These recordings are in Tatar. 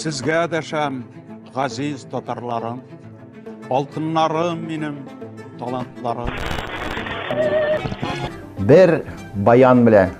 Сезгә дәшәм, газиз татарларым, алтыннарым минем, талантларым. Бер баян белән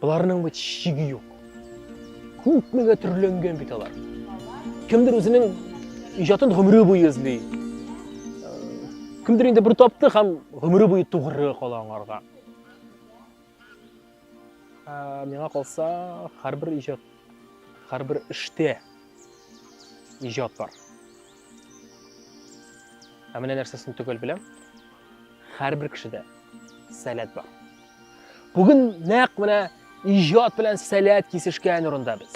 Боларның бит шиге юк. Күпмегә төрләнгән бит алар. Кемдер үзенең иҗатын гомере буе эзли. Кемдер инде бер тапты һәм гомере буе тугры кала аңарга. Миңа калса, һәрбер иҗат, һәрбер эштә иҗат бар. Ә менә нәрсәсен төгәл беләм. Һәрбер кешедә сәләт бар. Бүген нәкъ менә иҗат белән сәләт кисешкән урында без.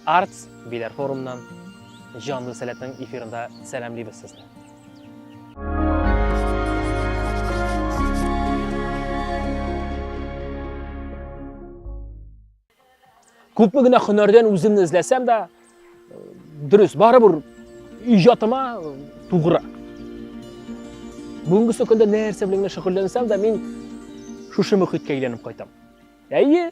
Артс биләр форумнан җанлы сәләтнең эфирында сәламлибез сезне. Күпме генә хөнәрдән үземне эзләсәм дә, дөрес, барыбер иҗатыма тугры. Бүгенге көндә нәрсә белән генә шөгыльләнсәм дә, мин шушы мөхиткә әйләнеп кайтам. Әйе,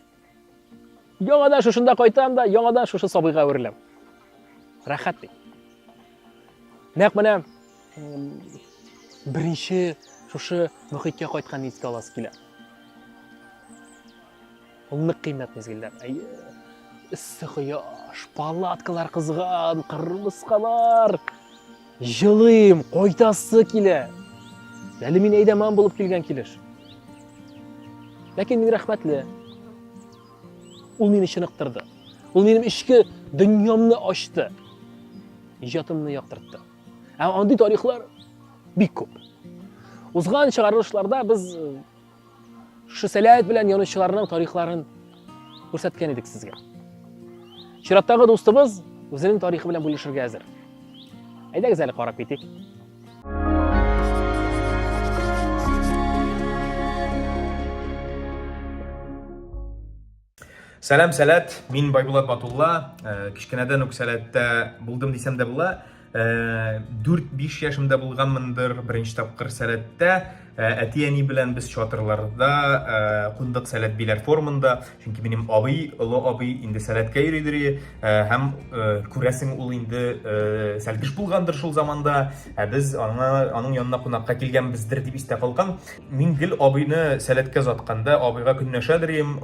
яңадан шушында кайтам да, яңадан шушы сабыйга әвереләм. Рәхәт бит. Нәкъ менә беренче шушы мөхиткә кайткан искә аласы килә. Ул нык кыйммәт мизгелләр. Әйе. Эссе кояш, палаткалар кызган, кырмыскалар. Җылыйм, кайтасы килә. Әле мин әйдәман булып килгән килеш. Ләкин мин рәхмәтле. Ул мине чыныктырды. Ул минем эчке дөньямны ачты. Иҗатымны яктыртты. Һәм андый тарихлар бик күп. Узган чыгарылышларда без Шушы сәләт белән янучыларның тарихларын күрсәткән идек сезгә. Чираттагы дустыбыз үзенең тарихы белән бүлешергә әзер. Әйдәгез әле карап китик. Сәлам, сәләт. Мин Байбулат Батулла. Э, кечкенәдән үк сәләттә булдым дисәм дә була. 4-5 э, яшемдә булганмындыр беренче тапкыр сәләттә. Э, әти-әни белән без чатырларда кундык сәләт биләр формында. Чөнки минем абый, олы абый инде сәләткә йөридер һәм күрәсең ул инде сәлкеш булгандыр шул заманда. Ә без аңа аның янына кунакка килгәнбездер дип истә калган. Мин гел абыйны сәләткә затканда, абыйга көнләшәдер идем,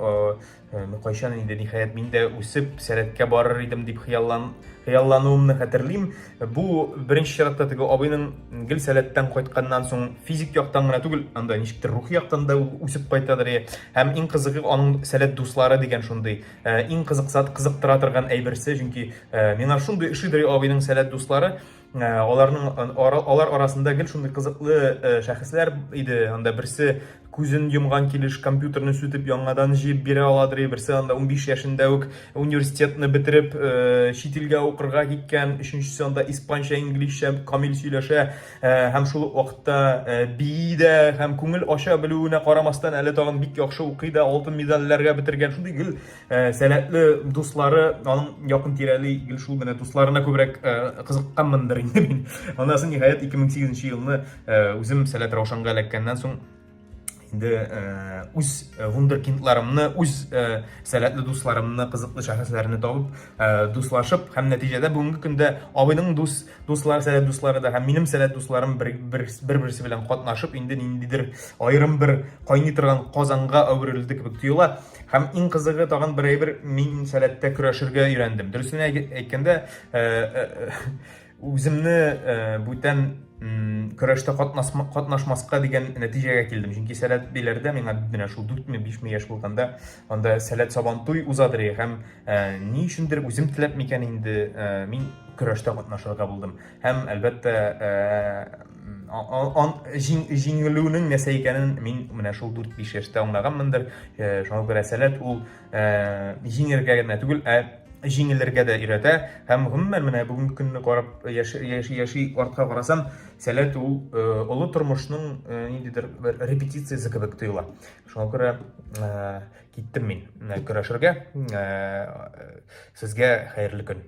кайчан инде ниһаять мин дә үсеп сәләткә барыр идем дип хыяллан хыяллануымны хәтерлим. Бу беренче чиратта теге абыйның гел сәләттән кайтканнан соң физик яктан гына түгел, анда ничектер рухи яктан да үсеп кайтадыр. Һәм иң кызыгы аның сәләт дуслары дигән шундый. Иң кызыксат кызыктыра торган әйберсе, чөнки миңа шундый ошидыр абыйның сәләт дуслары. Ә, аларның алар арасында гел шундый кызыклы ә, шәхесләр иде. Анда берсе күзен йомган килеш компьютерны сүтеп яңадан җыеп бирә аладыр, берсе анда 15 яшендә үк университетны бетереп ә, чит илгә укырга киткән, өченчесе анда испанча, инглизчә камил сөйләшә һәм шул ук вакытта бии дә һәм күңел ача белүенә карамастан әле тагын бик яхшы укый да, алтын медальләргә бетергән. Шундый гел Ә, сәләтле дуслары, аның якын тирәли гел шул менә дусларына күбрәк ә, кызыкканмындыр инде мин. Аннан соң ниһаять 2008 елны ә, үзем Сәләт Раушанга эләккәннән соң инде ә, үз э, вундеркиндларымны, үз ә, э, сәләтле дусларымны, кызыклы шәхесләрне табып, ә, дуслашып һәм нәтиҗәдә бүгенге көндә абыйның дус дуслары, сәләт дуслары да һәм минем сәләт дусларым бер-берсе белән катнашып, инде ниндидер аерым бер кайный торган казанга әверелде кебек тоела. Һәм иң кызыгы тагын бер әйбер, мин сәләттә көрәшергә өйрәндем. Дөресен әйткәндә, э, э, э, үземне бүтән көрәштә катнашмаска дигән нәтиҗәгә килдем. Чөнки сәләт биләрдә миңа менә шул 4-ме, 5-ме яшь булганда анда сәләт сабантуй узадыр һәм ни өчендер үзем теләп микән инде мин көрәштә катнашырга булдым. Һәм әлбәттә җиңелүнең нәрсә икәнен мин менә шул 4-5 яшьтә аңлаганмындыр. Э, шуңа күрә сәләт ул э, җиңергә генә түгел, ә җиңелергә дә өйрәтә. Һәм гомумән менә бүгенге көнне карап яши-яши артка карасам, сәләт ул э, олы тормышның ниндидер бер репетициясе кебек тоела. Шуңа күрә киттем мин көрәшергә. Сезгә хәерле көн.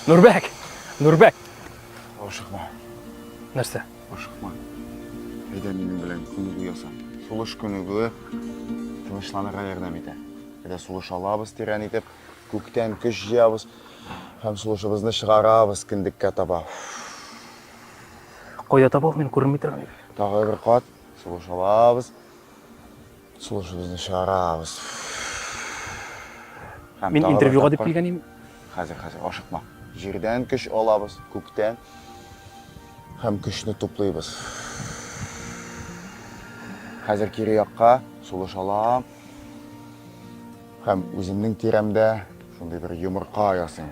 Нурбәк! Нурбәк! Ашыкма. Нәрсә? Ашыкма. Әйдә минем белән күнегү яса. Сулыш күнегүе тынычланырга ярдәм итә. Әйдә сулыш алабыз тирән итеп, күктән көч җыябыз һәм сулышыбызны чыгарабыз кендеккә таба. Кайда табабыз мин күренми торган ир? Тагы бер кат сулыш алабыз. Сулышыбызны чыгарабыз. Мин интервьюга дип килгән идем. Хәзер, хәзер, ашыкма. Җирдән көч алабыз, күктән. Һәм көчне туплыйбыз. Хәзер кире якка сулыш алам. Һәм үземнең тирәмдә шундый бер йомырка ясыйм.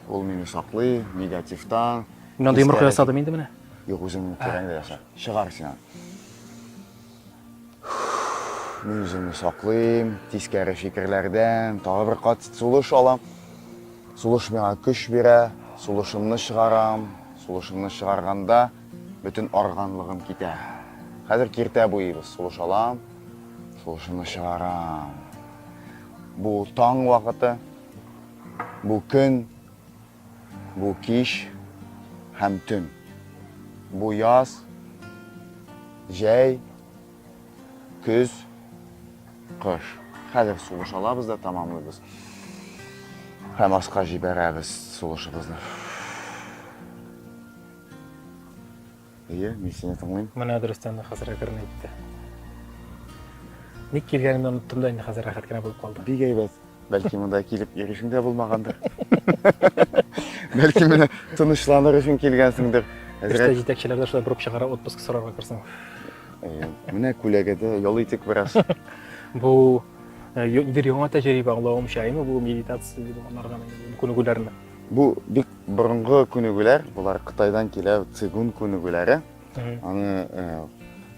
Ул мине саклый, негативтан. Мин анда йомырка ясадым инде менә. Юк, үзеңнең тирәңдә яса. Чыгар син аны. Мин үземне саклыйм, тискәре фикерләрдән, тагы бер кат сулыш алам. Сулыш миңа көч бирә, сулышымны чыгарам, сулышымны чыгарганда Бөтен арганлыгым китә. Хәзер киртә буйыбыз, сулыш алам, сулышымны чыгарам. Бу таң вакыты, бу көн, бу кич һәм төн. Бу яз, җәй, көз, кыш. Хәзер сулыш алабыз да тамамлыйбыз. Һәм аска җибәрәбез сулышыбызны. Әйе, мин сине тыңлыйм. Менә дөрестән дә хәзер әкрен әйтте. Ник килгәнемне оныттым да инде хәзер рәхәт кенә булып калды. Бик әйбәт. Бәлки монда килеп йөрүшең дә булмагандыр. Бәлки менә тынычланыр өчен килгәнсеңдер. Эштә Әзрәк җитәкчеләр дә шулай борып чыгара, отпуск сорарга керсен. Әйе. Менә күләгә дә ял итик бераз. Бу э, ю- бер яңа тәҗрибә аңлавымча, әйме бу медитация дип анарга күнегүләрне. Бу бик Борынгы күнегүләр, болар Кытайдан килә, цигун күнегүләре. Аны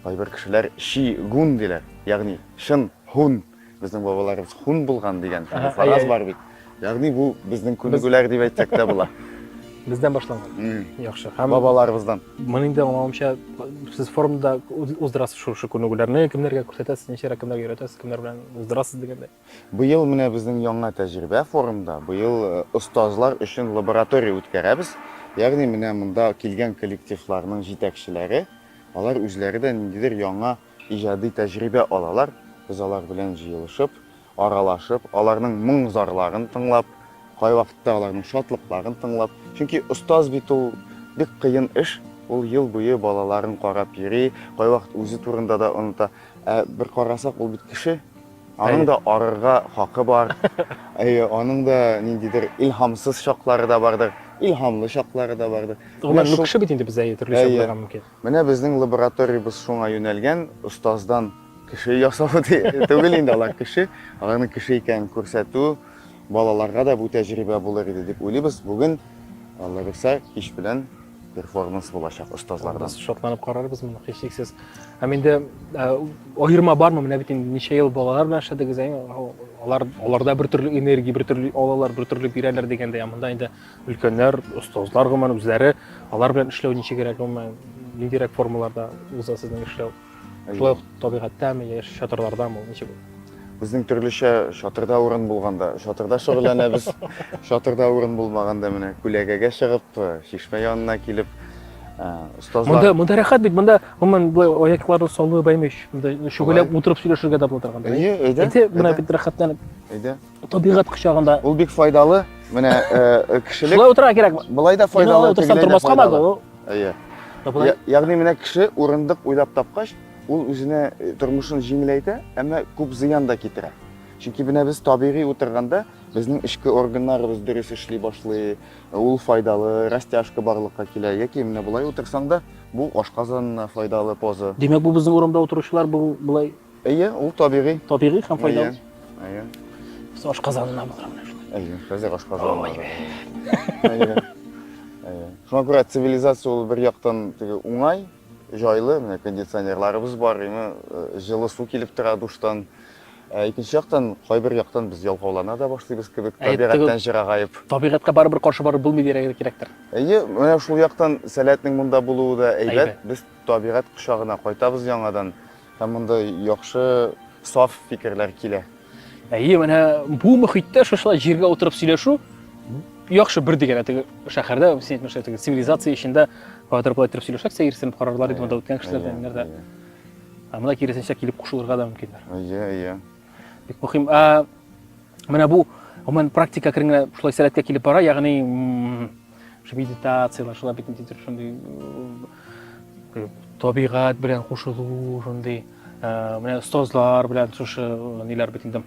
кайбер кешеләр ши гун диләр, ягъни шын хун. Безнең бабаларыбыз хун булган дигән фараз бар бит. Ягъни бу безнең күнегүләр дип әйтсәк тә була. Бездән башланган. Яхшы. Һәм бабаларыбыздан. Моны инде аңлавымча, сез форумда уздырасыз шушы күнегүләрне, кемнәргә күрсәтәсез, ничә кемнәргә өйрәтәсез, кемнәр белән уздырасыз дигәндәй. Быел менә безнең яңа тәҗрибә форумда. Быел остазлар өчен лаборатория үткәрәбез. Ягъни менә монда килгән коллективларның җитәкчеләре, алар үзләре дә ниндидер яңа иҗади тәҗрибә алалар. Без алар белән җыелышып, аралашып, аларның моң-зарларын тыңлап, кайвакытта аларның шатлыкларын тыңлап. Чөнки остаз бит ул бик кыен эш. Ул ел буе балаларын карап йөри, кайвакыт үзе турында да оныта. Ә бер карасак, ул бит кеше. Аның да арырга хакы бар. Әйе, аның да ниндидер илһамсыз чаклары да бардыр, илһамлы чаклары да бардыр. Гомумән, ну кеше бит инде без, әйе, төрлечә булырга мөмкин. Менә безнең лабораториябез шуңа юнәлгән, остаздан кеше ясау түгел инде, алар кеше, аларның кеше икәнен күрсәтү, балаларга да бу тәҗрибә булыр иде дип уйлыйбыз. Бүген, Алла бирсә, кич белән перформанс булачак остазлардан. Без шатланып карарбыз моны һичшиксез. Һәм инде аерма бармы? Менә бит инде ничә ел балалар белән эшләдегез, алар аларда бер төрле энергия, бер төрле алалар, бер төрле бирәләр дигәндә, ә монда инде өлкәннәр, остазлар гомумән үзләре алар белән эшләү ничегрәк гомумән, ниндирәк формаларда уза сезнең эшләү? Шулай ук табигатьтәме, яшь чатырларда мы, ничек ул? Безнең төрлечә чатырда урын булганда, чатырда шөгыльләнәбез. Чатырда урын булмаганда менә күләгәгә чыгып, чишмә янына килеп, остазлар. Монда монда рәхәт бит, монда гомумән булай аякларны салу бәймеш. Монда шөгыльләп утырып сөйләшергә дә була торганда. Әйе, әйдә. Әйдә, менә бит рәхәтләнеп. Әйдә. Табигать кочагында. Ул бик файдалы. Менә э, кешелек Шулай утырырга кирәк. Болай да файдалы, тегеләй дә файдалы. Әйе. Ягъни менә кеше урындык уйлап тапкач, ул үзенә э, тормышын җиңеләйтә, әмма күп зыян да китерә. Чөнки менә без табигый утырганда, безнең эчке органнарыбыз дөрес эшли башлый, ул файдалы, растяжка барлыкка килә. Яки менә болай утырсаң да, бу ашказанына файдалы поза. Димәк, бу безнең урамда утыручылар бу болай Әйе, ул табигый. Табигый һәм файдалы. Әйе. Әйе. Без ашказанына булдыра менә шулай. Әйе, без ашказанына. Әйе. Әйе. Шуңа күрә цивилизация ул бер яктан теге уңай, җайлы, менә кондиционерларыбыз бар, име э, җылы су килеп тора душтан. Ә икенче яктан, кайбер яктан без ялкаулана да башлыйбыз кебек, табигатьтән җырагаеп. Табигатькә барыбер каршы барып булмый дирәгә кирәктер. Әйе, менә шул яктан сәләтнең монда булуы да әйбәт. Без табигать кочагына кайтабыз яңадан. Һәм монда яхшы, саф фикерләр килә. Әйе, менә бу мөхиттә шушылай җиргә утырып сөйләшү яхшы бер дигән теге шәһәрдә, син әйтмешә теге цивилизация эчендә кадәр болай торып сөйләшәк, сәерсенеп карарлар иде монда үткән кешеләр дә, ниләр дә. Ә монда киресенчә килеп кушылырга да мөмкиннәр. Әйе, әйе. Бик мөһим. Ә Менә бу гомумән практика кергәнгә шулай сәләткә килеп бара, ягъни шул медитацияләр, шулай бит нидер шундый табигать белән кушылу, шундый менә остазлар белән шушы ниләр бит инде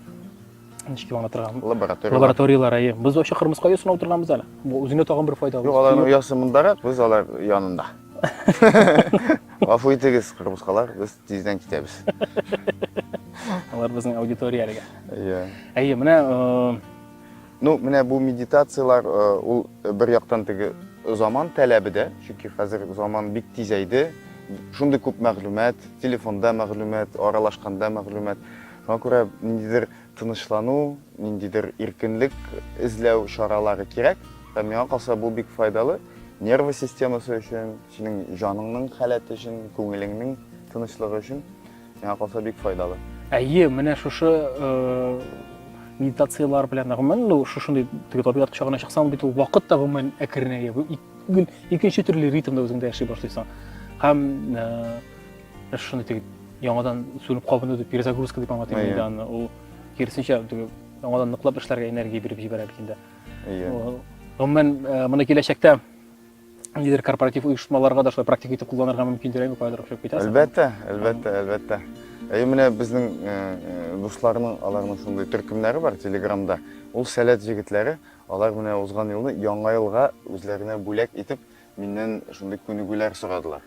ничек аңлата торган лабораториялар лабораториялар әйе без вообще кырмыска оя сынап торганбыз әле бу үзенә тагын бер файда юк аларның оясы мондарак без алар янында гафу итегез кырмыскалар без Тиздән китәбез. Алар безнең аудитория әлегә. Иә. Әйе, менә Ну, менә бу медитациялар ул бер яктан теге заман таләбе дә, чөнки хәзер заман бик тизәйде. Шундый күп мәгълүмат, телефонда мәгълүмат, аралашканда мәгълүмат. Шуңа күрә ниндидер тынычлану, ниндидер иркенлек эзләү чаралары кирәк. Һәм миңа калса, бу бик файдалы нервы системасы өчен, Синең җаныңның халәте өчен, күңелеңнең тынычлыгы өчен миңа калса бик файдалы. Әйе, менә шушы медитациялар белән гомумән ну шушындый теге табигать кочагына чыксаң бит ул вакыт та гомумән әкренәя гел икенче төрле ритмда үзеңдә яши башлыйсың һәм ә, шуны теге яңадан сүнеп кабыну дип перезагрузка дип аңлатыйм инде аны ул киресенчә теге яңадан ныклап эшләргә энергия биреп җибәрә бит инде гомумән моны киләчәктә ниндидер корпоратив оешмаларга да шулай практика итеп кулланырга мөмкиндер әйме кайдыр ошып китә әлбәттә әлбәттә әлбәттә әй менә безнең э, э, дусларның аларның шундый төркемнәре бар телеграмда ул сәләт җегетләре алар менә узган елны яңа елга үзләренә бүләк итеп миннән шундый күнегүләр сорадылар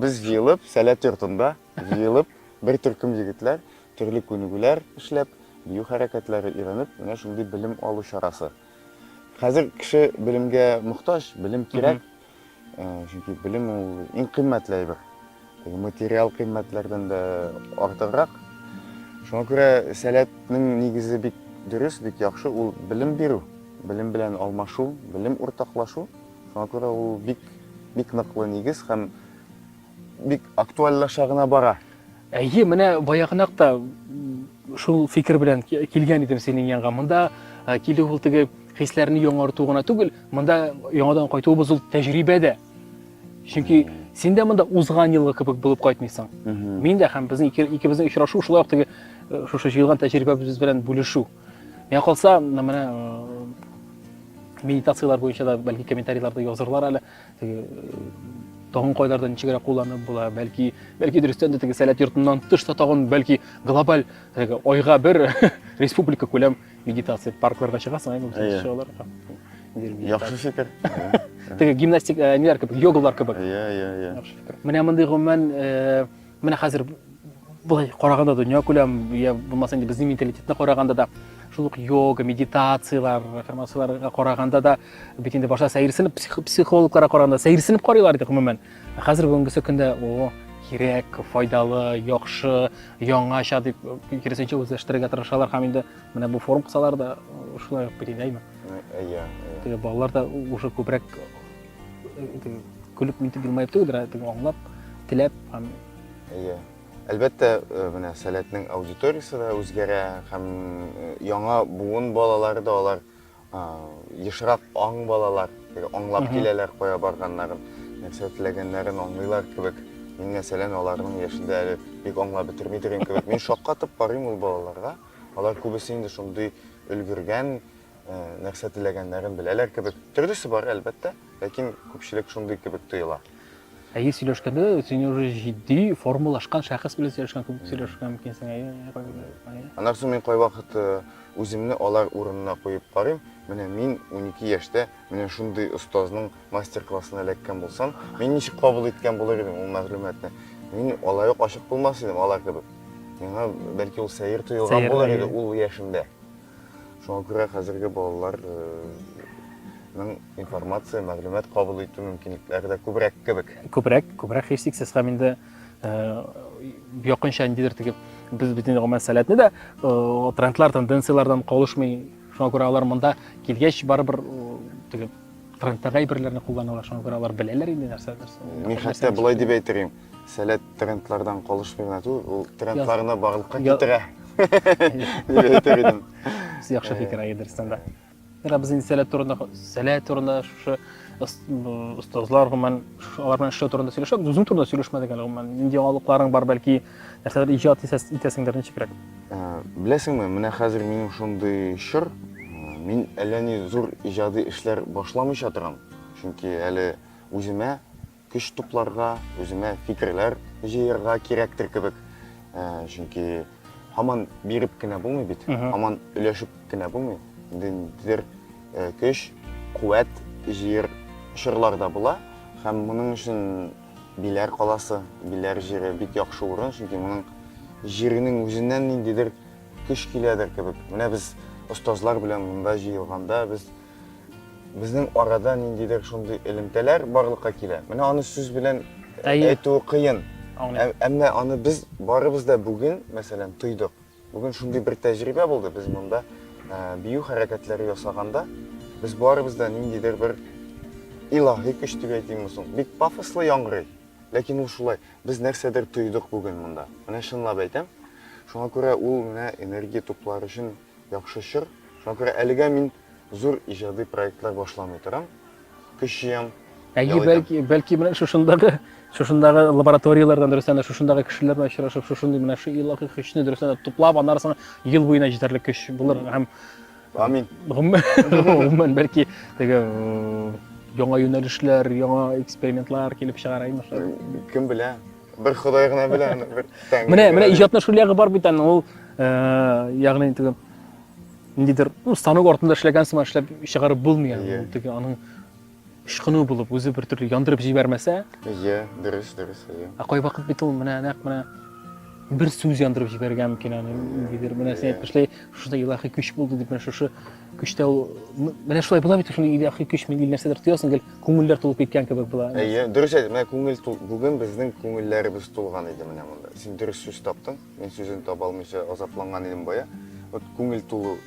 без җыелып сәләт йортында җыелып бер төркем егетләр төрле күнегүләр эшләп бию хәрәкәтләре өйрәнеп менә шундый белем алу чарасы Хәзер кеше белемгә мохтаҗ, белем кирәк. Э, чөнки белем ул иң кыйммәтле әйбер. Материал кыйммәтләрдән дә артыграк. Шуңа күрә сәләтнең нигезе бик дөрес, бик яхшы, ул белем бирү, белем белән алмашу, белем уртаклашу. Шуңа күрә ул бик бик ныклы нигез һәм бик актуальлаша гына бара. Әйе, менә баягынак та шул фикер белән килгән идем синең янга. Монда килү ул теге хисләрне яңарту гына түгел, монда яңадан кайтуыбыз ул тәҗрибә дә. Чөнки син дә монда узган елгы кебек булып кайтмыйсың. Мин дә һәм безнең икебезнең очрашу шулай ук теге шушы җыелган тәҗрибәбез белән бүлешү. Миңа калса, менә медитацияләр буенча да бәлки комментарийларда язырлар әле. Теге тагын кайларда ничегрәк кулланып була, бәлки, бәлки дөрестән дә теге сәләт йортыннан тыш та тагын бәлки глобаль теге айга бер республика күләм медитация паркларга чыгасың, әйе, Әйе. чыгаларга. Яхшы фикер. Теге гимнастик э, ниләр кебек, йогалар кебек. Иә, иә, иә. Яхшы фикер. Менә мондый гомумән э, Менә хәзер былай караганда дөнья күләм, я булмаса инде безнең менталитетны караганда да шул ук йога, медитациялар, аффирмацияларга караганда да бит инде башта сәерсенеп психологларга караганда сәерсенеп карыйлар иде гомумән. Хәзер бүгенге көндә о, кирәк, файдалы, яхшы, яңача дип киресенчә үзләштерергә тырышалар һәм инде менә бу форум кысалар да шулай ук бит инде, әйме? Әйе. Теге балалар да уже күбрәк э, көлеп нитеп елмаеп түгел ә теге аңлап теләп һәм иә әлбәттә э, менә сәләтнең аудиториясе дә үзгәрә һәм э, яңа буын балалары да алар ешрак аң балалар аңлап киләләр кая барганнарын нәрсә теләгәннәрен аңлыйлар кебек мин мәсәлән аларның яшендә әле бик аңлап бетерми торган кебек мин шаккатып карыйм ул балаларга алар күбесе инде шундый өлгергән нәрсә теләгәннәрен беләләр кебек. Төрлесе бар, әлбәттә, ләкин күпчелек шундый кебек тоела. Әйе сөйләшкәндә син уже җитди формалашкан шәхес белән сөйләшкән кебек сөйләшергә мөмкинсең. Әйе. Аннан соң мин кайвакыт э, үземне алар урынына куеп карыйм. Менә мин 12 яшьтә менә шундый остазның мастер-классына эләккән булсам, мин ничек кабул иткән булыр идем ул мәгълүматны? Мин алай ук ачык булмас идем алар кебек. Миңа бәлки ул сәер тоелган булыр иде ул яшемдә. Шуңа күрә хәзерге балаларның информация, мәгълүмат кабул итү мөмкинлекләре дә күбрәк кебек. Күбрәк, күбрәк һичшиксез һәм инде якынча ниндидер теге без бөтен гомумән сәләтне дә трендлар, тенденцияләрдән калышмый. Шуңа күрә алар монда килгәч барыбер теге трендтагы әйберләрне кулланалар, шуңа күрә алар беләләр инде нәрсә нәрсә. Мин хәтта болай дип әйтер идем. Сәләт трендлардан калышмый гына түгел, ул трендларны барлыкка китерә. Дип әйтер идем. Яхшы фикер әйе дөрестән дә. Менә без инде сәләт турында, сәләт турында шушы остазлар гомумән алар белән эшләү турында сөйләшәбез. Үзең турында сөйләшмәдек әле гомумән. Нинди яңалыкларың бар, бәлки нәрсәләр иҗат итәсеңдер ничегрәк? Э, беләсеңме, менә хәзер минем шундый чор, мин әллә ни зур иҗади эшләр башламыйча торам. Чөнки әле үземә Көч тупларга, үземә фикерләр җыярга кирәктер кебек. Ә, чөнки һаман биреп кенә булмый бит, һаман өләшеп кенә булмый. Ниндидер э, көч, куәт җыер чорлар да була. Һәм моның өчен Биләр каласы, Биләр җире бик яхшы урын, чөнки моның җиренең үзеннән ниндидер көч киләдер кебек. Менә без остазлар белән монда җыелганда без Безнең арада ниндидер шундый элемтәләр барлыкка килә. Менә аны сүз белән әйтүе кыен. Әмма аны без барыбыз да бүген, мәсәлән, тойдык. Бүген шундый бер тәҗрибә булды, без монда бию хәрәкәтләре ясаганда, без барыбыз да ниндидер бер илаһи көч дип әйтимме соң? Бик пафослы яңгырый. Ләкин ул шулай. Без нәрсәдер тойдык бүген монда. Менә чынлап әйтәм. Шуңа күрә ул менә энергия туплар өчен Яхшы чор, шуңа күрә әлегә мин зур иҗади проектлар башламый торам. Көч җыям, Әйе, ял итәм. бәлки, бәлки менә шушындагы, шушындагы лабораторияләрдән дөрестән дә шушындагы кешеләр белән очрашып, шушындый менә шу илаһи көчне дөрестән дә туплап, аннары соң ел буена җитәрлек көч булыр һәм Амин. гомумән, гомумән бәлки теге м, яңа юнәлешләр, яңа экспериментлар килеп чыгар, әйе, Мишель? Кем белә? Бер Ходай гына белә аны, бер Тәңре. Менә, менә иҗатның шул ягы бар бит аны, ул, э, ягъни теге ниндидер, ну, станок артында эшләгән сыман эшләп чыгарып булмый аны. Ул теге аның ышкыну булып, үзе бер төрле яндырып җибәрмәсә. Иә, дөрес, дөрес, иә. Ә кай вакыт бит ул менә нәкъ менә бер сүз яндырып җибәргән микән аны, ниндидер, менә син әйтмешли, шушында илаһи көч булды дип, менә шушы Көчтә ул менә шулай була бит шул илаһи көч мин нәрсәдер тоясың гел күңелләр тулып киткән кебек була. Әйе, дөрес әйт, менә күңел тул. Бүген безнең күңелләребез тулган иде менә монда. Син дөрес сүз таптың. Мин сүзен таба алмыйча азапланган идем бая. Вот күңел тулу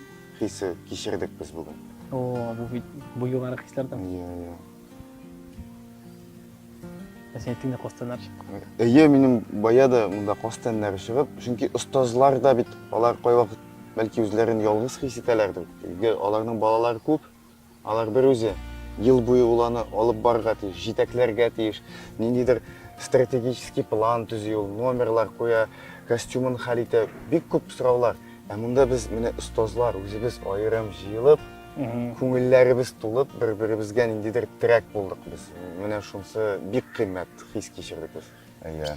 хисе кичердек без бүген. О, бу бит бу югары хисләрдән. Әйе, әйе. Ә синең тиңдә костеннар чыккан. Әйе, минем бая да монда костеннар чыгып, чөнки остазлар да бит алар кайвакыт бәлки үзләрен ялгыз хис итәләрдер. Өйгә аларның балалары күп, алар бер үзе ел буе ул аны алып барырга тиеш, җитәкләргә тиеш, ниндидер стратегический план төзи ул, номерлар куя, костюмын хәл итә, бик күп сораулар. Ә монда без менә остазлар үзебез аерым җыелып, күңелләребез тулып, бер-беребезгә ниндидер терәк булдык без. Менә шунысы бик кыйммәт хис кичердек без. Әйе.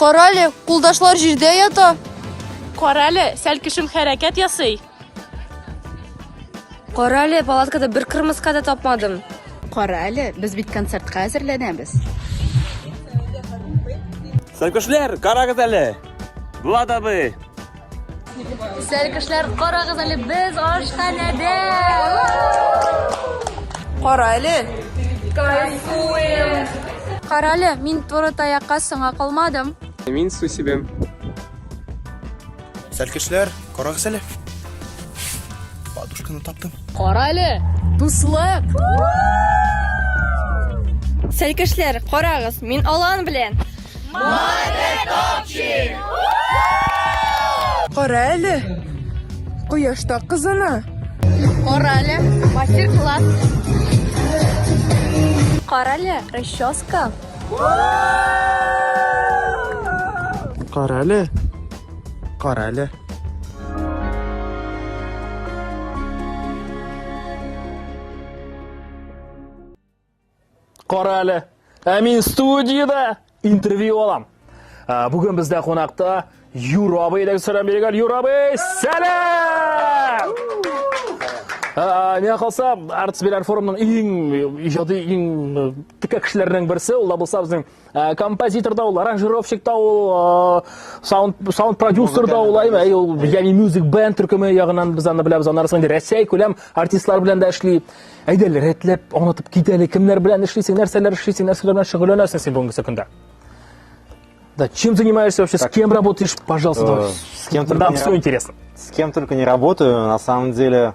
Карале, кулдашлар җирдә ята. Карале, сәл кешем хәрәкәт ясый. Карале, палаткада бер кырмыска да тапмадым. Карале, без бит концертка әзерләнәбез. Сәлкешләр, карагыз әле. Влад абый, Сәр кешеләр, карагыз әле, без ашханәдә! Кара әле! Кайфуем! Кара әле, мин туры таякка соңа калмадым. Мин су сибем. Сәр кешеләр, карагыз әле! Подушканы таптым. Кара әле, дуслык! Сәр кешеләр, карагыз, мин алан белән! Молодец, топчик! Кара әле, кояшта кызына. Кара әле, мастер-класс. Кара әле, расческа. Кара әле, кара әле. Кара әле, ә мин студиядә интервью алам. Ә, Бүген бездә кунакта Юра абый дә сәлам биргән. Юра абый, сәлам! Ә, Миңа калса, Артс Беляр форумның иң иҗади, иң э, текә кешеләренең берсе, ул да булса безнең Ә, композитор да ул, аранжировщик та ул, ә, саунд, саунд продюсер да ул, әйме, әй, ул, ягъни мюзик бенд төркеме ягынан без аны беләбез, аны арасында Рәсәй күләм артистлар белән дә эшли. Әйдә, рәтләп аңлатып кит әле, кемнәр белән эшлисең, нәрсәләр эшлисең, нәрсәләр белән шөгыльләнәсең син бүгенге көндә? Да, чем занимаешься вообще, с кем работаешь, пожалуйста, э, давай. С кем только Нам не все раб- интересно. С кем только не работаю, на самом деле,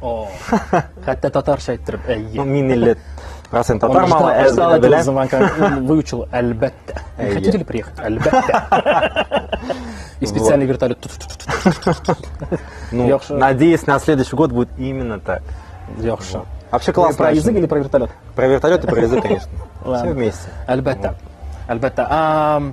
Хәтта татарча әйттереп, әйе. Мин 50 процент татар малы әзер белән. Заман выучил, әлбәттә. Хотите ли приехать? Әлбәттә. И специальный вертолет. Ну, надеюсь, на следующий год будет именно так. Яхша. Вообще классно. Про язык или про вертолет? Про вертолет и про язык, конечно. Все вместе. Әлбәттә. Әлбәттә.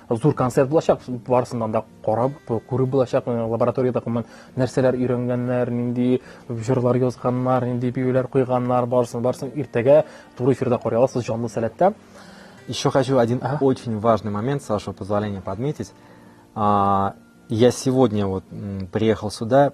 зур концерт булачак барысыннан да карап күреп булачак э, лабораториядә гомумән нәрсәләр өйрәнгәннәр нинди җырлар язганнар нинди биюләр куйганнар барысын барысын иртәгә туры эфирда карый аласыз җанлы сәләттә еще хочу один ага. очень важный момент с вашего позволения подметить а, я сегодня вот приехал сюда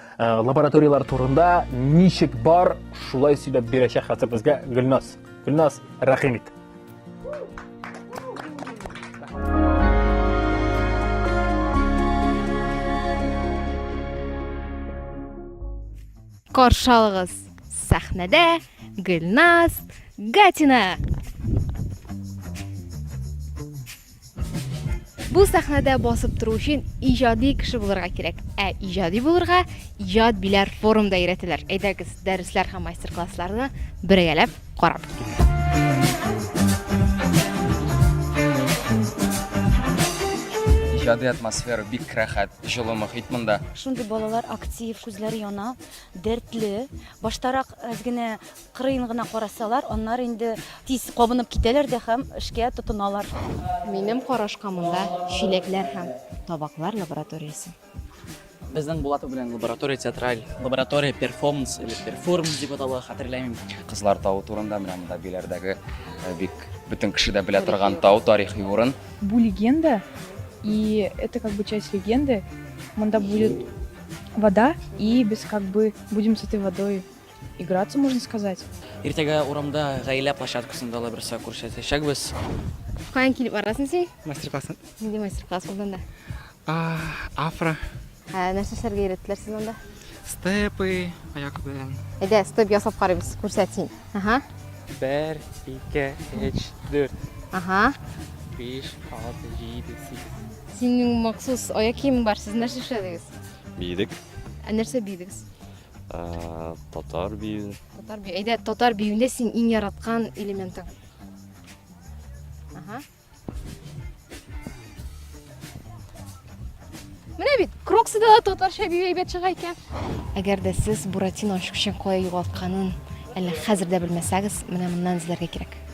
Э, лабораторияләр турында ничек бар, шулай сөйләп бирәчәк хәзер безгә Гөлназ. Гөлназ, рәхим ит. Каршы алыгыз. Сәхнәдә Гөлназ Гатина. Бу сәхнәдә басып тору өчен иҗади кеше булырга кирәк. Ә иҗади булырга иҗат биләр форумда өйрәтәләр. Әйдәгез, дәресләр һәм мастер-классларны бергәләп карап китик. Иҗади атмосфера бик рәхәт, җылы мохит монда. Шундый балалар актив, күзләре яна, дәртле. Баштарак әз генә Кырыен гына карасалар, аннары инде тиз кабынып китәләр дә һәм эшкә тотыналар. Минем карашка монда чиләкләр һәм табаклар лабораториясе. Безнең Булатов белән лаборатория театраль лаборатория перформанс или перформ дип атала, хәтерләмим. Кызлар тавы турында менә монда Биләрдәге э, бик бөтен кеше дә белә торган тау, тарихи урын. Бу легенда, и это как бы часть легенды. Монда будет вода, и без как бы будем с этой водой Играться, можно сказать. Иртәгә урамда гаилә площадкасында ла берсә күрсәтәчәкбез. Каян килеп барасың син? Мастер-класс. Нинди мастер-класс булды анда? Афро. Ә, нәрсә эшләргә өйрәттеләр сез анда? Степы, аяк белән. Әйдә, степ ясап карыйбыз, күрсәт син. Ага. Бер, ике, өч, дүрт. Ага. Биш, алты, җиде, сигез. Синең махсус аяк киемең бар, сез нәрсә эшләдегез? Биедек. Ә нәрсә бийдегез? Ә, татар бию. Татар бию. Әйдә, татар биюендә син иң яраткан элементың. Ага. Менә бит, кроксыда да татарча бию әйбәт чыга икән. Әгәр дә сез Буратино ачкычын кая югалтканын әллә хәзер дә белмәсәгез, менә моннан эзләргә кирәк.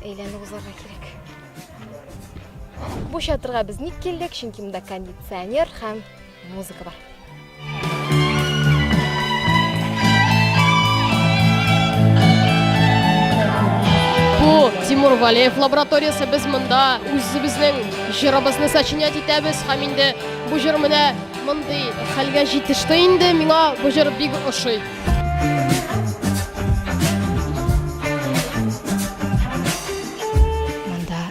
Әйләнеп узарга кирәк. Бу чатырга без ник килдек? Чөнки монда кондиционер һәм музыка бар. Бу Тимур Валеев лабораториясе без монда үзебезнең җырыбызны сочинять итәбез һәм инде бу җыр менә мондый хәлгә җитеште инде миңа бу җыр бик ошый. Монда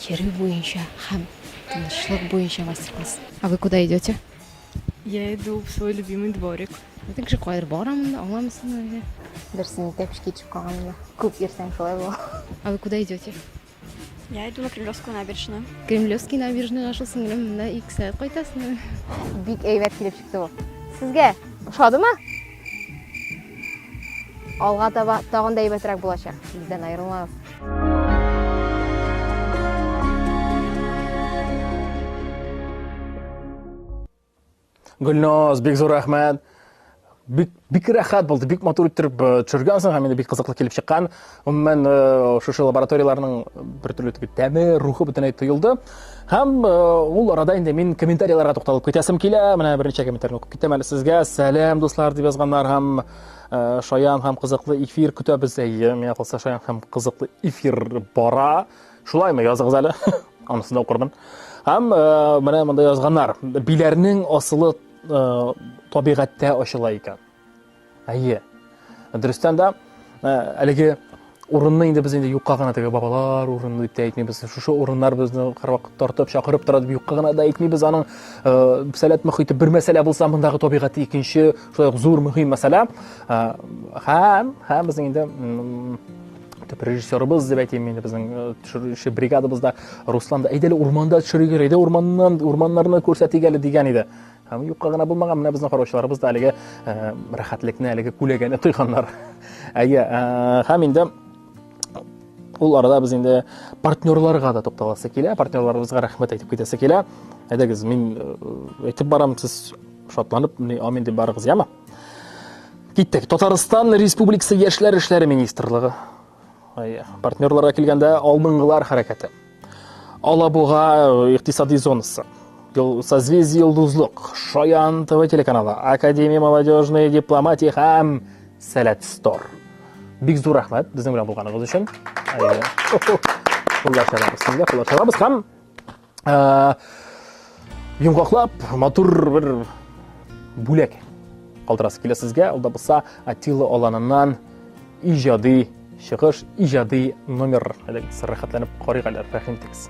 йөрү буенча һәм тынычлык буенча мастер-класс. А вы куда идете? Я иду в свой любимый дворик. Әйтең кеше кайдыр бара монда, аңламыйсыңмы әллә? Берсен итәк эшкә төшеп калган монда. Күп йөрсәң шулай була. А вы куда идете? Я иду на Кремлевскую набережную. Кремлевский набережныйга шул сеңлем монда ике сәгать кайтасың. Бик әйбәт килеп чыкты бу. Сезгә ошадымы? Алга таба тагын да әйбәтрәк булачак. Бездән аерылмагыз. Гөлназ, бик зур рәхмәт. Бик, бик рәхәт булды, бик матур иттереп э, төшергәнсең һәм инде бик кызыклы килеп чыккан. Гомумән, э, шушы лабораторияләрнең бер төрле теге тәме, рухы бөтенләй тоелды. Һәм э, ул арада инде мин комментарийларга тукталып китәсем килә. Менә берничә комментарий укып китәм әле сезгә. Сәлам, дуслар, дип язганнар һәм шаян һәм кызыклы эфир көтәбез. Әйе, миңа калса шаян һәм кызыклы эфир бара. Шулаймы, языгыз әле. Анысы да укырмын. Һәм э, менә монда язганнар. Биләрнең асылы э, табигатьтә ачыла икән. Әйе. Дөрестән дә э, әлеге урынны инде без инде юкка гына теге бабалар урыны дип тә әйтмибез. Шушы урыннар безне һәрвакыт тартып, чакырып тора дип юкка гына да әйтмибез. Аның э, сәләт мөхите бер мәсьәлә булса, мондагы табигате икенче, шулай ук зур мөһим мәсьәлә. Э, һәм һәм без инде итеп режиссерыбыз дип әйтим инде безнең э, төшерүче бригадабызда руслан да әйдә әле урманда төшерик әле әйдә урманнан урманнарны күрсәтик әле дигән иде һәм юкка гына булмаган менә безнең караучыларыбыз да әлеге э, рәхәтлекне әлеге күләгәне тойганнар әйе э, һәм инде ул арада без инде партнерларга да тукталасы килә партнерларыбызга рәхмәт әйтеп китәсе килә әйдәгез мин әйтеп барам сез шатланып міне амин деп барыгыз яме Киттек. Татарстан Республикасы яшьләр эшләре министрлыгы. Партнерларга килгәндә алдынгылар хәрәкәте. Алабуга э, икътисади зонасы. Созвездие Йолдызлык, Шаян ТВ телеканалы, Академия молодежной дипломатии һәм Сәләт Стор. Бик зур рәхмәт безнең белән булганыгыз өчен. Куллашабыз, куллашабыз һәм Ә, йомгаклап, матур бер бүләк калдырасы килә сезгә. Ул да булса Атилы аланыннан иҗади чыгыш, иҗади номер. Әле рәхәтләнеп карыйк әле, рәхим итегез.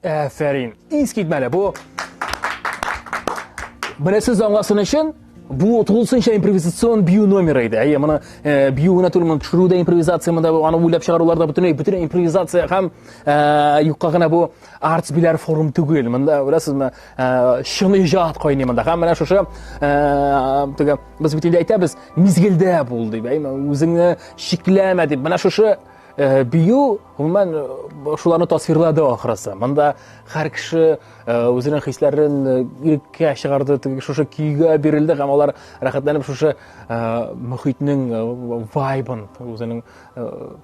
Әфәрин. Искитмәле бу. Бересез аңласын өчен бу тулысынча импровизацион бию номеры иде. Әйе, моны э, бию гына түгел, моны төшерү дә импровизация, монда аны уйлап чыгарулар да бөтенләй бөтен импровизация һәм э, юкка гына бу арт биләр форум түгел. Монда беләсезме, э, чын иҗат кайный монда. Һәм менә шушы э, теге без бит инде әйтәбез, мизгелдә бул дип, әйме, үзеңне шикләмә дип. Менә шушы Э, бию гомумән э, шуларны тасвирлады ахрысы монда һәр кеше э, үзенең хисләрен иреккә чыгарды шушы көйгә бирелде һәм алар рәхәтләнеп шушы мөхитнең вайбын үзенең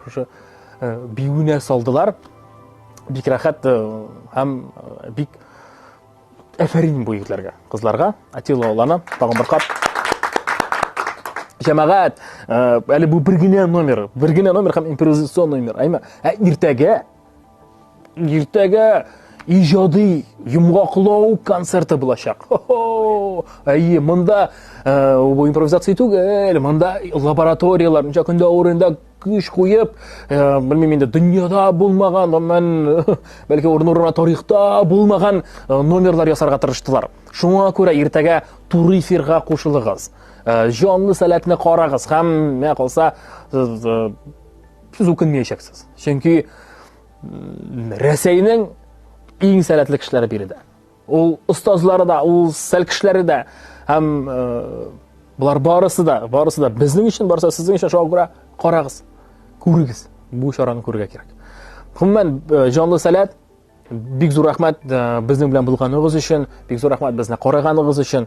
шушы биюенә салдылар бик рәхәт һәм бик Әфәрин бу егетләргә, кызларга. Атилла Алланы тагын бер кат. Җәмәгать, э, әле бу бер генә номер, бер генә номер һәм импровизационный номер. Әйме, ә иртәгә иртәгә иҗади йомгаклау концерты булачак. Әйе, монда э, бу импровизация түгел, монда лабораторияләр, ничә көндә урында көч куеп, э, белмим инде, дөньяда булмаган, аннан бәлки урын-урына тарихта булмаган э, номерлар ясарга тырыштылар. Шуңа күрә иртәгә туры эфирга кушылыгыз. Э, җанлы сәләтне карагыз һәм менә калса сез үкенмәячәксез. Чөнки Рәсәйнең иң сәләтле кешеләре биредә. Ул остазлары да, ул сәл кешеләре дә һәм э, болар барысы да, барысы да безнең өчен, барысы сезнең өчен шуңа күрә карагыз, күрегез. Бу чараны күрергә кирәк. Гомумән, э, җанлы сәләт, бик зур рәхмәт э, безнең белән булганыгыз өчен, бик зур рәхмәт безне караганыгыз өчен.